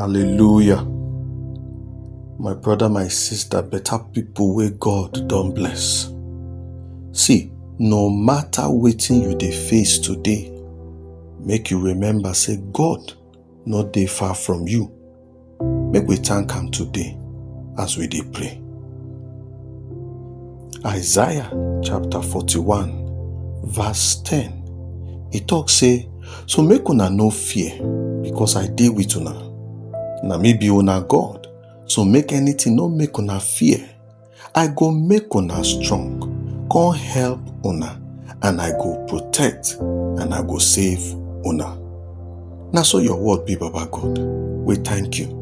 Hallelujah. My brother, my sister, better people where God don't bless. See, no matter waiting you they face today, make you remember say God not they far from you. Make we thank him today as we dey pray. Isaiah chapter 41 verse 10 e talk say so make una no fear because I dey with una na me be una God so make anything no make una fear I go make una strong come help una and I go protect and I go save una na so your word be baba God we thank you.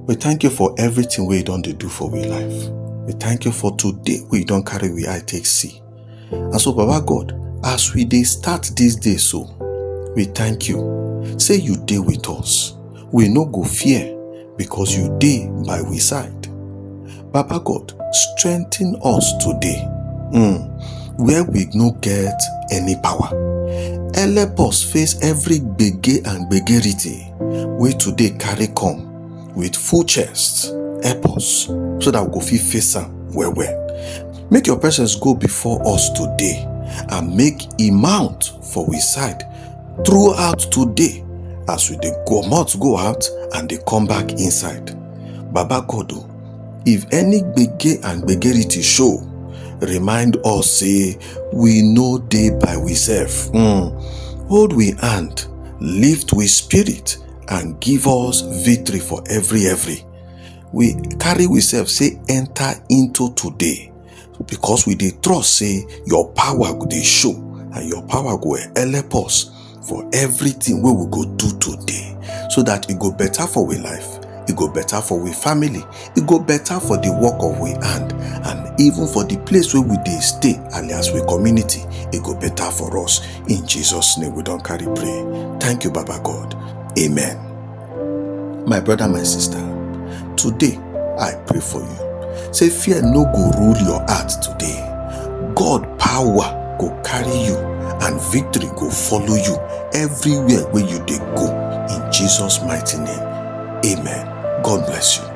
We thank you for everything wey you don dey do for we life. We thank you for today wey you don carry we eye take see. And so Baba God, as we dey start this day so, we thank you. Say you dey with us. We no go fear because you dey by we side. Baba God, strengthen us today mm, where we no get any power. Help us face every gbege and gbegerity wey today carry come with full chest. Help us so that we go fit face am well well. Make your presence go before us today and make e mount for we side throughout today as we dey comot go out and dey come back inside. Baba God o, If any gbege and gbegerity show, remind us say we no dey by we self. Mm. Hold we hand, lift we spirit and give us victory for every every. We carry we self say enter into today. because we dey trust say your power go dey show and your power go help us for everything wey we go do today so that e go better for we life e go better for we family e go better for the work of we hand and even for the place wey we dey stay alias we community e go better for us in jesus name we don carry pray thank you baba god amen My brother, my sister, today I pray for you. Say fear no go rule your heart today. God power go carry you and victory go follow you everywhere where you dey go in Jesus mighty name. Amen. God bless you.